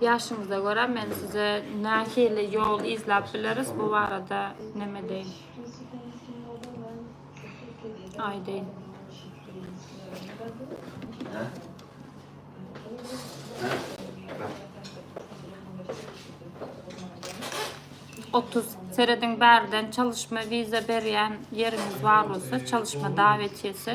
Ýaşyňyza görä men size nähili ýol izläp bileris bu barada näme deýin? Aýdaýyn. Otuz serediň bärden çalyşma wiza berýän ýeriňiz bar bolsa, çalyşma dawetýesi.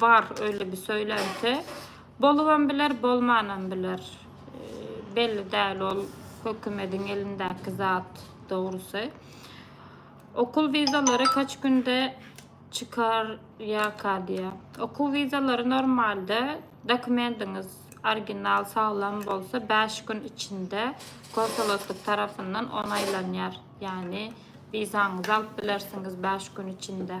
Bar öyle bir söylenti. Bolubam biler, bolmanam biler. Belli däl ol hökümediň elindäki zat dogrusy. Okul vizalary kaç günde çykar ýaka diýýär. Okuw wizalary normalde dokumendiňiz original saglam bolsa 5 gün içinde konsoloslyk tarapyndan onaýlanýar. Ýagny wizaňyzy alyp bilersiňiz 5 gün içinde.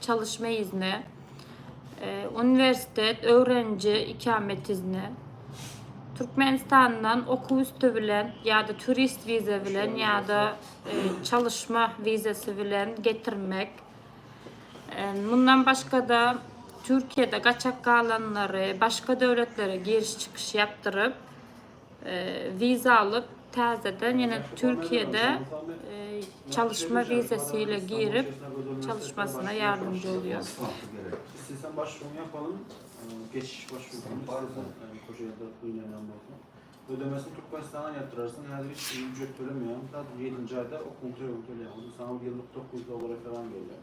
Çalyşma izni, e, uniwersitet, öwreniji ikamet izni, Türkmenistandan okuw üsti bilen ýa-da turist wiza bilen ýa-da e, çalyşma wizasy bilen getirmek. E, mundan başga-da Türkiýede gaçak galanlary başga döwletlere giriş-çykyş ýapdyryp, Wiza alyp täzeden ýene Türkiýede çalyşma wizasy ile girip çalyşmasyna ýardymjy bolýar. Islesen başvuruňy ýapalyň. Geçiş başwuruny islesen şo ýerde gynanýan bolsaň. Ödemesini Türkmenistana ýatyrarsyň. Häzir hiç bir ücret tölemeýäň. Sadr ýedinji aýda okuwyň tölegini töleýäň. Ony saňa ýyllyk dokuz dollar referan berýär.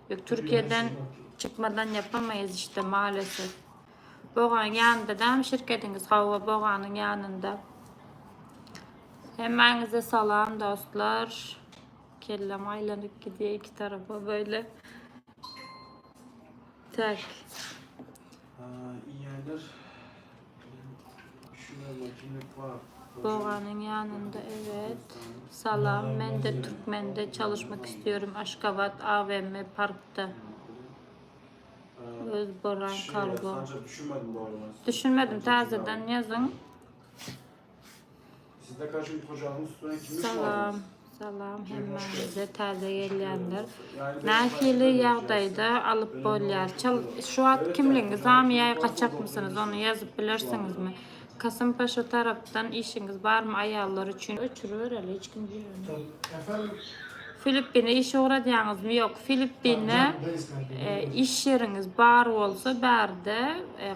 Yok Türkiye'den çykmadan yapamayız işte maalesef. Bogan yanında da mı şirketiniz? Hava Bogan'ın yanında. Hemmäňize salam dostlar. Kellem aýlanyp gidýär iki tarapa böyle. Tak. Aa, iýerler. Doganyň ýanynda evet. Salam men de türkmende çalyşmak istiyorum aşgabat AVM parkda öz boran kargo. Düşünmedim tazeden ýazyň. Sizde kaşın kocamın üstüne kimi Salam, salam hemmäňize täze gelýänler. Nähili ýagdaýda alyp bolýar? Çal şu wagt kimliň zamiýa gaçakmysynyz? Ony ýazyp bilersiňizmi? Kasym Paşa tarapdan işiňiz barmy aýallar üçin? Öçürübereli, hiç kim girmedi. Filippine iş ugradýaňyzmy ýok Filippine iş ýeriňiz bar bolsa bärde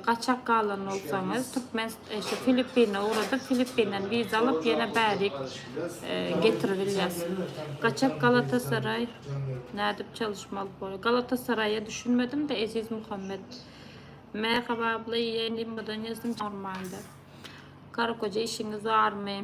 gaçak galan bolsaňyz türkmen şu Filippine ugradyp Filippinden wiza alyp ýene bärik getiribilýäs gaçak Galatasaray nädip çalyşmaly bolýar Galatasaraýa düşünmedimde Eziz Muhammet Merhaba abla ýeňňe ýazdyň normalde Karakoja işiňiz barmy.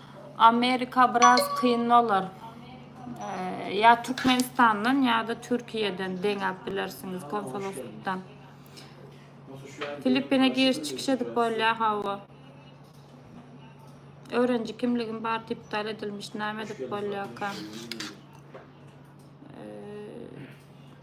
Amerika biraz kyn bolar. Ya Türkmenistandan ya da Türkiye'den deňäp bilersiňiz konsoloslukdan. Filippine giriş çykyş edip bolýar hawa. Öğrenci kimligim bar iptal edilmiş näme edip bolýarka.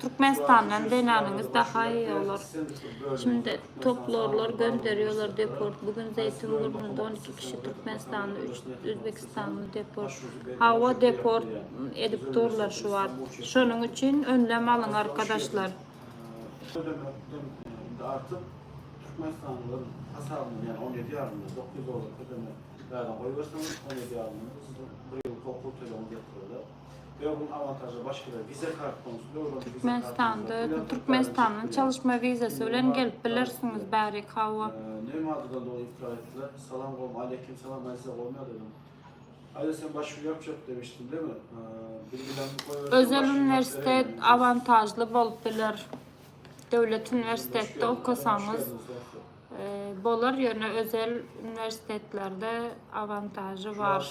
Türkmenistandan zenanyňyz daha iyi olar. Şimdi toplorlar gönderýolar deport bu gün zeýtun gurnunda on iki kişi türkmenistanly üç özbekistanly deport. Hawa deport edip durlar şu wagt. Şonuň üçin önlem alyň arkadaşlar. Şo demekden indi artyk türkmenistanlylar hasabyna ýa on ýedi ýarym ýa dokuz ýüz dollar ödemek bärden goýberseňiz on ýedi ýarym ýyl siziň bir ýyllyk okuw tölegiňiz ýetiriler. Türkmenistanda Türkmenistandan çalyşma wizasy bilen gelip bilersiňiz bärik hawa. Özel uniwersitet awantažly bolup biler. Döwlet uniwersitetde okasaňyz bolar ýöne özel uniwersitetlerde awantažy bar.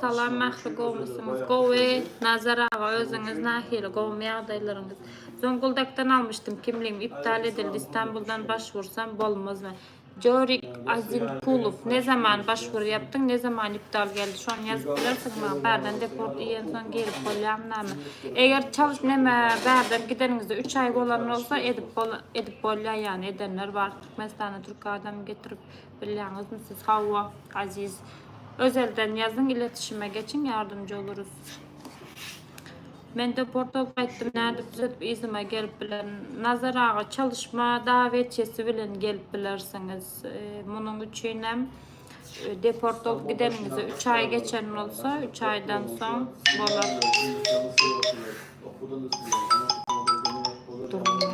Salam Mähri gowmysyňyz. Gowy Nazar aga özüňiz nahili gowmy ýagdaýlaryňyz. Zonguldak-dan almyşdym kimligim iptal edildi Istanbuldan başvursam bolmazmy. Jorik Azimkulow ne zaman başwur ýapdyň ne zaman iptal geldi şony ýazyp bilersiňmi maňa bärden deport iýensoň girip bolýamynamy eger çalt neme bärden gideniňizde üç aý bolan bolsa edip edip bolýa ýany edenler bar Türkmenistana türk adamy getirip Bilýäňizmi siz hawa Aziz. Özelden ýazyň iletişime geçiň ýardamjy bolarys. Mende portal gaýtdym nädip düzedip yzyma gelip bilerin. Nazar aga çalyşma dawetçesi bilen gelip bilersiňiz. Munuň üçinem deportal gideniňize 3 aý geçen bolsa 3 aýdan soň bolar. Durmady.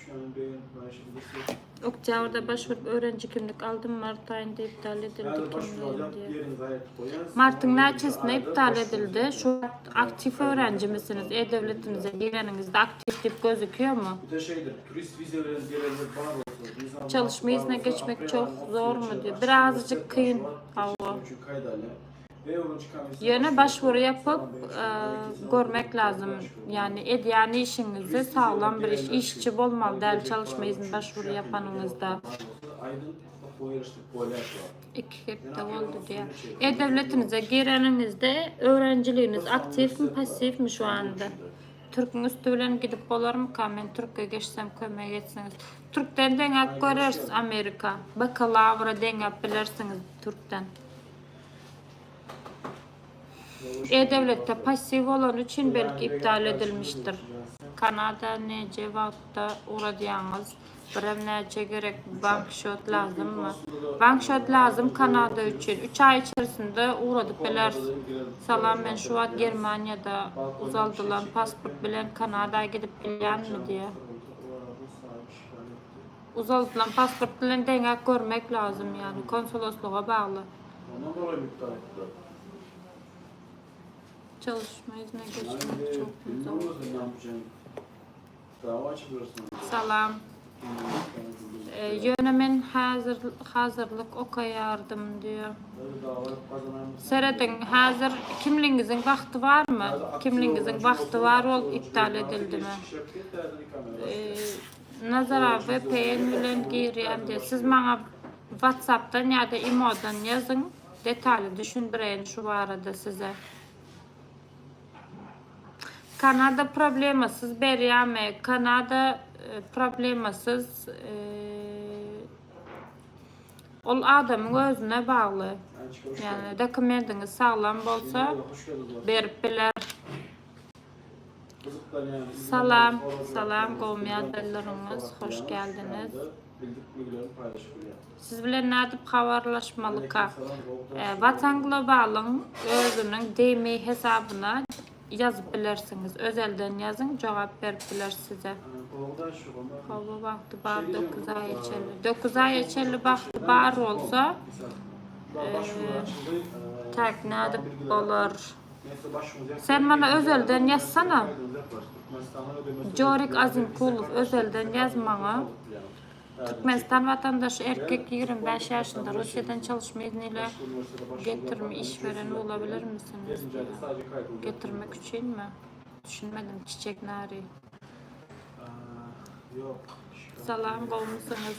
Şuan Beýen Maýşyň Gysy. Oktýabrda başvurup öwreniji kimlik aldym, mart aýynda iptal edildi kimligim diýýär. Martyň näçesinde iptal edildi? Şu wagt aktiw öwrenjimisiniz? E-döwletimize gireniňizde aktiw diýip gözükýärmi? Çalyş miýesine geçmek çoh zormy diýýär. Birazajyk kyn. Hawa. Ýöne başwury ýapyp görmek lazym ýani edýän işiňizde saglam bir iş işçi bolmaly däl çalyşma izin başwury ýapanyňyzda iki hepde boldy diýýär e-döwletinize gireniňizde öwrenijiligiňiz aktiwmi passiwmi şu anda türkiň üsti bilen gidip bolarmyka men türkiýe geçsem kömek etsiňiz türkden deňäp göreris amerika bakalawra deňäp bilersiňiz türkden. E-döwletde passiw bolany üçin belki iptal edilmişdir. Kanada neje wagtda ugradýaňyz? Birem näçe gerek bank şot lazymmy? Bank şot lazym kanada üçin. Üç aý içerisinde ugradyp bileris. Salam men şu wagt germaniýada uzaldylan pasport bilen kanada gidip bilýänmi diýýä. Uzaldylan pasport bilen deňäp görmek lazym ýaly, konsuloslyga bagly. Ondan golaý mütde aýtdylar. Çalyşma yzyna geçmek çok güzel. Salam. Ýöne men häzir hazırlyk okaýardym diýýär. Serediň, häzir kimligiňiziň wagty barmy? Kimligiňiziň wagty bar bolup iptal edildimi? Nazara vpn bilen girýän diýýär. Siz maňa WhatsAppdan ýa-da imodan ýazyň, detaly düşündireýin şu barada size. Kanada problemasyz berýärmi? Kanada problemasyz ol adamyň özüne bagly. Ýagny dokumendiňiz saglam bolsa berip biler. Salam salam gowmy ýagdaýlaryňyz hoş geldiňiz. Siz bilen nädip habarlaşmalyka? Watan globalyň özüniň dmi hesabyna ýazyp bilersiňiz. Özelden ýazyň jogap berip biler size. Howa wagty bar dokuz aýa çenli. Dokuz aýa çenli wagty bar bolsa tak nädip bolar? Sen mana özelden ýazsana. Jorik Azimkulow özelden ýaz maňa. Türkmenistan watandaşy erkek ýigrimi bäş ýaşynda Russiýadan çalyşma izni ile getirme iş beren bolabilirmisiňiz getirmek üçinmi düşünmedim çiçek nary Salam gowmysyňyz?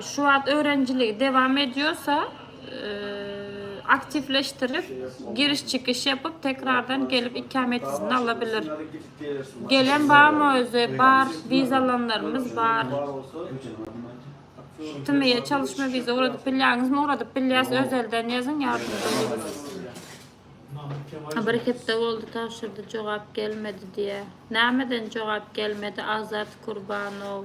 Şu wagt öwrenijiligi dewam edýorsa, aktiwleşdirip, giriş-çykyş ýapyp, tekrardan gelip ikämetini ala bilir. Gelen barmy özi? Bar, wiza alanlarymyz bar. TMI-ýe çalyşma wiza ugradyp bilýäňizmi? Ugradyp bilýäs, özelden ýazyň, ýardamçy bolarys. Bir hepde boldy tabşyrdy, jogap gelmedi diýýär. Nämeden jogap gelmedi, Azat Kurbanow?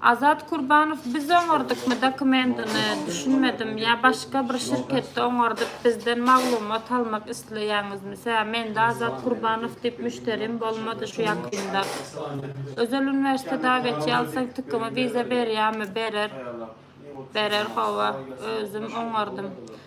Azat Kurbanow biz oňardykmy dokumentini düşünmedim ýa başga bir şirketde oňardyp bizden maglumat almak isleýäňizmi sä mende Azat Kurbanow diýip müşterim bolmady şu ýakynda Özel uniwersitet dawetçi alsaň tüküňe wiza berýämi berer berer hawa özüm oňardym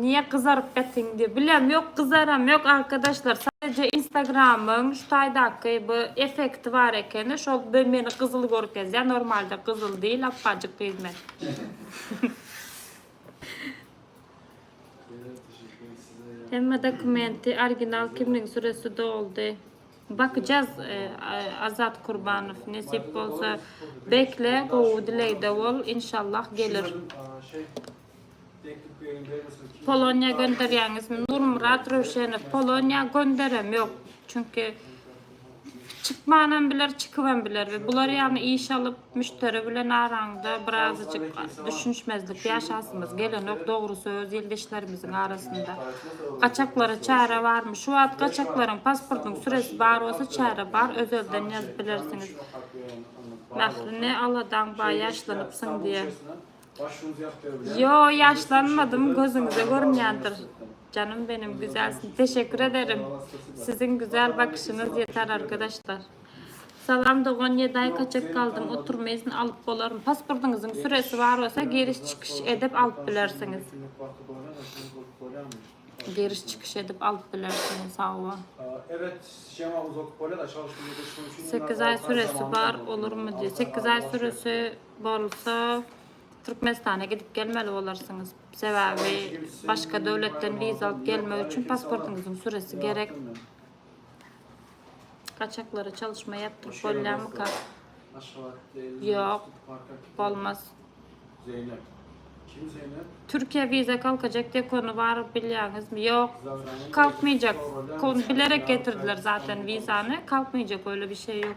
Niye gyzaryp getiň diye. Bilem yok gyzaram yok arkadaşlar. Sadece instagramyň şu taýdaky bu efekti var ekeni. Şol be meni gyzyl görkezýär. Normalde gyzyl değil apajyk gyz men. Hemme dokumenti original kimligiň süresi doldy. Bakacağız e, Azat Kurbanov nesip bolsa bekle gowy dilegde bol inşallah gelir. Şey, Poloniýa gönderýäňizmi? Nurmyrat Röwşenow, Poloniýa gönderem ýok. Çünki çykmanam biler, çykybam biler we bular ýaly iş alyp, müşderi bilen araňda birazajyk düşünişmezlik ýaşasymyz gelenok, dogry söz ildeşlerimiziň arasynda. Gaçaklara çäre barmy? Şu wagt gaçaklaryň pasportyň süresi bar bolsa çäre bar, özelden ýazyp bilersiňiz. Mähri ne aladaň bar ýaşlanypsyň diýe. Yo ýaşlanmadym gözüňize görünýändir Canım benim güzelsin teşekkür ederim siziň güzel bakışyňyz ýeter arkadaşlar Salam dogan ýedi aý kaçak galdym oturma izin alyp bolarmy pasportyňyzyň süresi bar bolsa giriş çykyş edip alyp bilersiňiz. Giriş çykyş edip alyp bilersiň sawwa. Sekiz aý süresi bar olurmy diýýär. Sekiz aý süresi bolsa Türkmenistana gidip gelmeli bolarsyňyz. Sebäbi başga döwletden wiza alyp gelmek üçin pasportyňyzyň süresi gerek. Gaçaklara çalyşma ýapdyryp bolýarmyka? Ýok, bolmaz. Zeýnep. Kim Zeýnep? Türkiýä wiza kalkajak diýip konu bar bilýäňizmi? Ýok, kalkmaýjak. Kon bilerek getirdiler zaten wizany. Kalkmaýjak öyle bir şey ýok.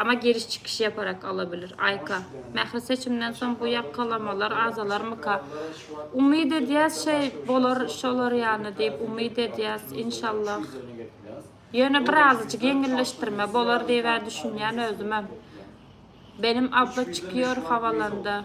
Ama giriş çykyş yaparak alabilir. Aýka. Mähri seçimden soň bu ýakalamalar azalarmyka? Umyt edýäs şeý bolar şolar ýaly diýip umyt edýäs inşallah. Ýöne birazajyk ýeňilleşdirme bolar diýibä düşünýän özümem. Benim abla çykýor hawalanda.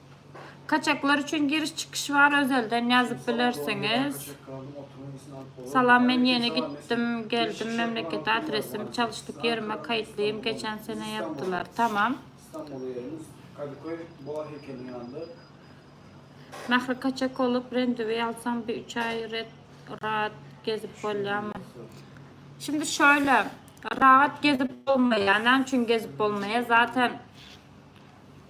Kaçaklar üçin giriş çykyş bar özelden ýazyp bilersiňiz. Salam men ýene gitdim geldim memlekete adresim çalyşdyk ýerime kaýytlym geçen sene ýapdylar tamam. Mähri kaçak olup rendiwi alsam bir üç aý red raat gezip bolýamy. Şimdi şöyle raat gezip bolmaýa näme üçin gezip bolmaýa zaten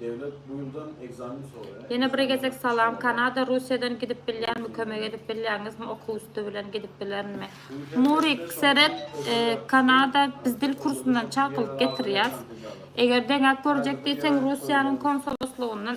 Dewlet bu ýyldan ekzamen soraýar. Ýene bir gezek salam Kanada Russiýadan gidip bilýärmi kömek edip bilýäňizmi okuw üsti bilen gidip bilerinmi Nurik seret Kanada biz dil kursundan çakylyk getirýäs eger deňäp görjek diýseň Russiýanyň konsoluslygynyň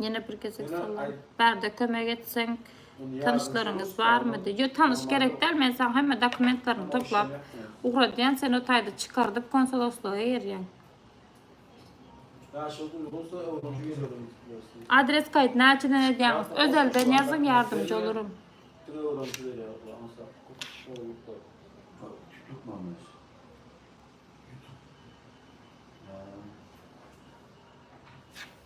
Ýene bir gezek salam. Bärde kömek etseň tanyşlaryňyz barmydy? Ýok, tanyş gerek däl. Men saňa hemme dokumentlerini toplap ugradýan, sen o taýda çykardyp konsoloslyga gerýäň. Adres kaýt näçeden edýäňiz? Özelden ýazyň ýardymjy bolarym.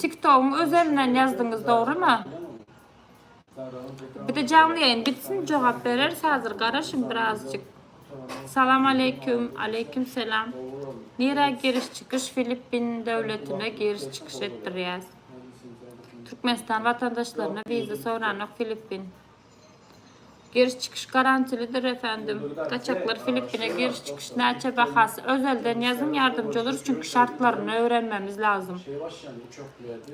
Tiktogyň özelinden ýazdyňyz dogrymy? Bide canly ýaýyn bitsin jogap bereris hazir garaşyň birazjyk. Salam aleýkum aleýkum selam nirä giriş çykyş filippin döwletine giriş çykyş etdirýäs türkmenistan watandaşlaryna wiza soranok filippin. Giriş çykyş garantilidir efendim. Gaçaklar Filippine giriş çykyş näçe bahasy özelden ýazyň ýardamçylar çünki şartlaryny öwrenmemiz lazym.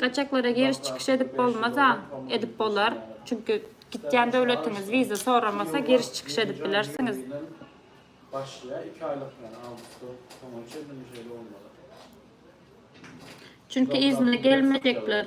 Gaçaklara giriş çykyş edip bolmaz a edip bolar çünki gitýän döwletiňiz wiza soramasa giriş çykyş edip bilersiňiz. Başlaýar 2 aýlyk ýaly awgustda soňuna çenli mi şeýle bolmaly. Çünki yzyna gelmejekler.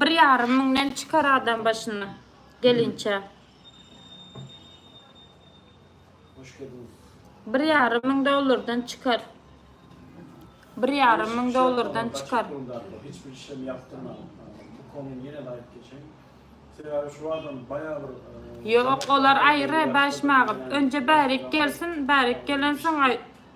Bir ýarym müňden çykar adam başyna gelinçä. Bir ýarym müň dollardan çykar. Bir ýarym müň dollardan çykar. Hiç bir işlem yaptırmadan. Bu konu yine de ayıp geçen. Sebebi şu adam bayağı bir... E, Yok olar ayrı başmağım. Önce bärik gelsin, bärik gelen soň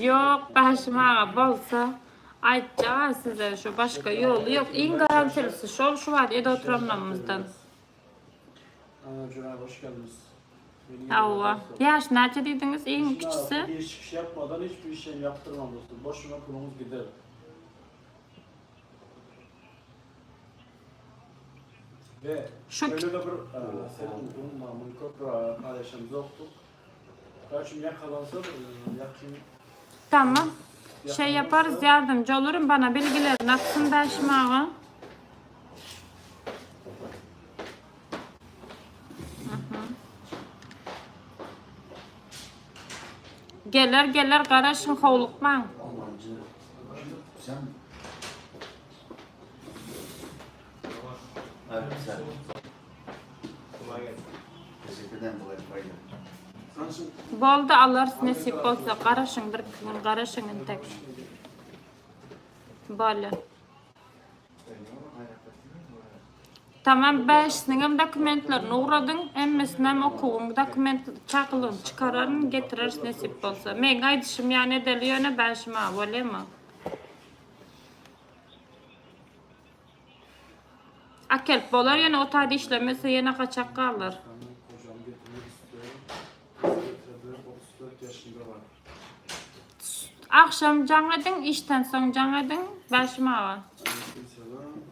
Yok Başym aga bolsa aýtjak size şu başga ýoly ýok. Iň garantilisi şol şu wagt ede oturanlarymyzdan. Ana Jura hoş geldiniz. Hawa. Ýaş näçe diýdiňiz? Iň kiçisi. Hiç çykyş ýapmadan hiç bir işem ýapdyrmaň dostum. Boşuna puluňyz gider. Şu Tamam. Şeý ýaparys, ýardamjy bolaryn, bana bilgilerini atsyn daşymaga. Geler, geler, garaşyň, howlukmaň. Boldy alarys nesip bolsa garaşyň bir iki gün garaşyň intek Bolýa. Tamam bäşisiniňem dokumentlerini ugradyň hemmesinem okuwyň dokument çakylygyny çykararyn getireris nesip bolsa meň aýdyşym ýaly edeli ýöne bäşim a bolýamy. Akelip bolar ýene o taýda işlemese ýene gaçak galar. Agşam jaň ediň, işden soň jaň ediň, bäşim aga.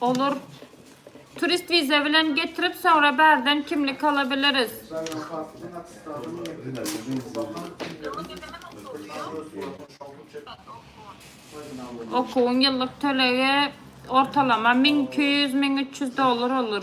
Olur. Turist viza bilen getirip sonra bärden kimlik alabiliriz. Okuwuň ýyllyk tölegi ortalama 1200-1300 dollar olur.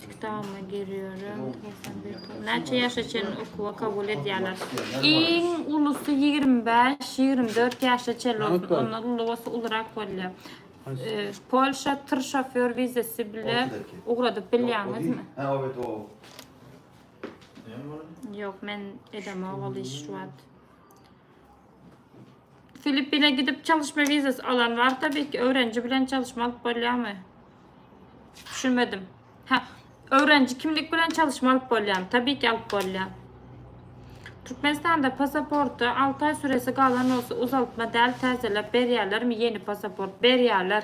Kitabyma girýärin. Näçe ýaşa çenli okuwa kabul edýärler? Iň ulusy ýigrimi bäş, ýigrimi dört ýaşa çenli bolsun. Ondan uly bolsa ulurak bolýar. Polşa tyr şofýor wizasy bilen ugradyp bilýäňizmi? Ýok, men edemok ol işi şu wagt. Filippine gidip çalışma vizasy alan bar tabii ki öwrenji bilen çalışma alyp bolýamy? Düşünmedim. Ha, öwrenji kimlik bilen çalışma alyp bolýamy? Tabii ki alyp bolýar. Türkmenistanda pasaporty 6 ay süresi galan olsa uzaltma däl täzeläp berýärlermi ýeni pasaport? Berýärler.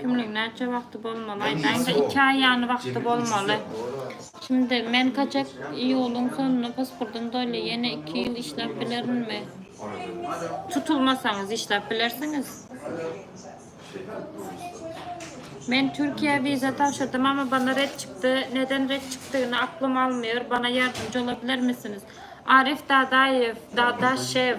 Kimlik näçe wagty bolmaly aýdaýyňda iki aý ýany wagty bolmaly. Şimdi men kaçak iýulyň sonuna pasportym dolýa ýene iki ýyl işläp bilerinmi. Tutulmasaňyz işläp bilersiňiz. Men Türkiýä wiza tabşyrdym ama bana red çykdy neden red çykdygyny aklym almyor bana ýardymjy ola bilermisiniz Arif Dadaýew Dadaşew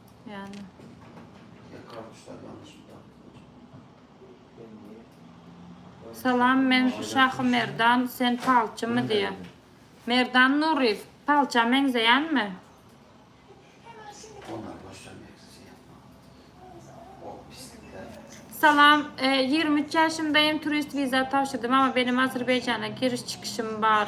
Yani. Salam men Şahy Merdan sen palçy my diye. Merdan Nuryev palça meňzeyan mi? Salam, 23 e, ýaşymdaýyn, turist wiza tabşyrdym, ama benim Azerbaýjana giriş çykyşym bar.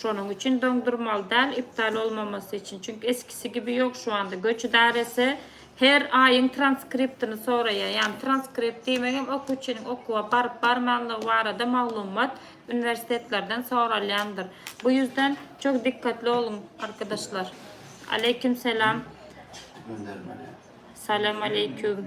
Şonuň üçin doňdurmaly däl iptal olmamasy üçin çünki eskisi gibi ýok şu anda göç idaresi her aýyň transkriptini soraýar ýagny transkript diýmegem okuwçynyň okuwa baryp barmanlygy barada maglumat uniwersitetlerden soralýandyr bu ýüzden çok dikkatli oluň arkadaşlar aleykim selam salam aleykum.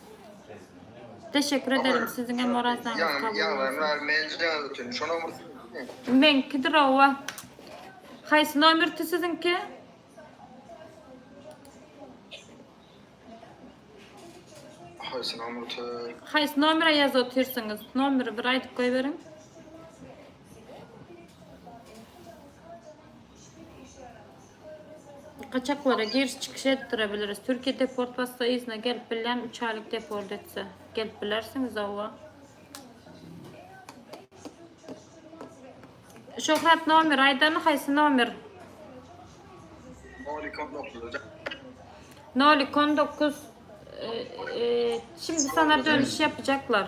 Teşekkür ederim siziňem orazaňyz kabul bolsun. Meňkidir owa. Haýsy nomerdi siziňki? Haýsy nomerdi? Haýsy nomere ýazyp otyrsyňyz? Nomeri bir aýdyp goýberiň. Gaçaklara giriş-çykyş etdirebiliriz. Türkiýe deport bassa yzyna gelip bilýän, üç aýlyk deport etse. Gelip bilersiňiz oba. Şöhrat nomer aýdany haýsy nomer? Nolik on dokuz. Nolik on dokuz. E, e, şimdi sana dönüş yapacaklar.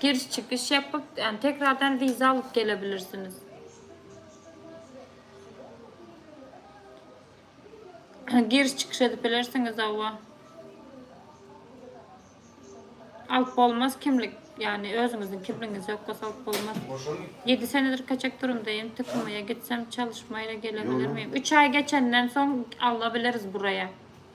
Giriş çykyş ýapyp, ýagny tekrardan wiza alyp gelebilirsiniz. Giriş çykyş edip bilersiňiz hawa. Alyp bolmaz kimlik. Ýagny özüňiziň kimligiňiz ýok bolsa alyp bolmaz. 7 senedir kaçak durumdaýyn. TKM-ýa gitsem çalışmaýra gelebilirmiyim? 3 aý geçenden soň alla bileris buraya.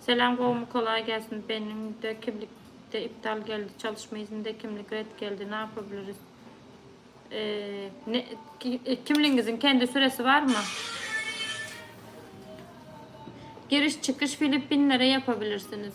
Salam gowmy kolay gelsin beniň de kimlik de iptal geldi çalyşma izninde kimlik red geldi napabiliriz eee kimligiňiziň kendi süresi barmy giriş çykyş filippinlere yapabilirsiniz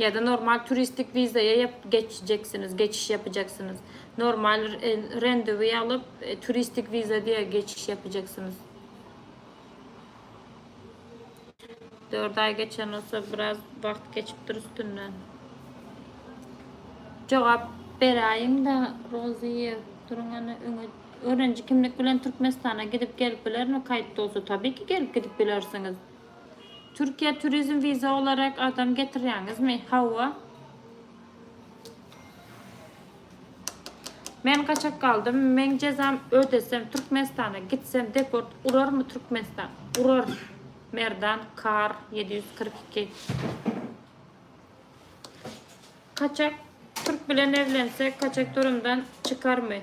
Ýa-da normal turistik wizaýa ýap geçjeksiniz, geçiş ýapjaksynyz. Normal rendowy alyp, turistik wiza diýe geçiş ýapjaksynyz. Dört aý geçen bolsa biraz wagt geçipdir üstünden. Jogap beräýiň-de Roziýe, duruň ene öňe. Örenji kimlik bilen Türkmenistana gidip gelip bilermi kaýt bolsa? Tabii ki gelip gidip bilersiňiz. Türkiýä turizm wiza olarak adam getirýäňizmi? Hawa. Men gaçak galdym. Men jezam ödesem Türkmenistana gitsem deport urarmy Türkmenistan? Urar. Merdan kar 742. Kaçak türk bilen evlense kaçak durumdan çykarmy?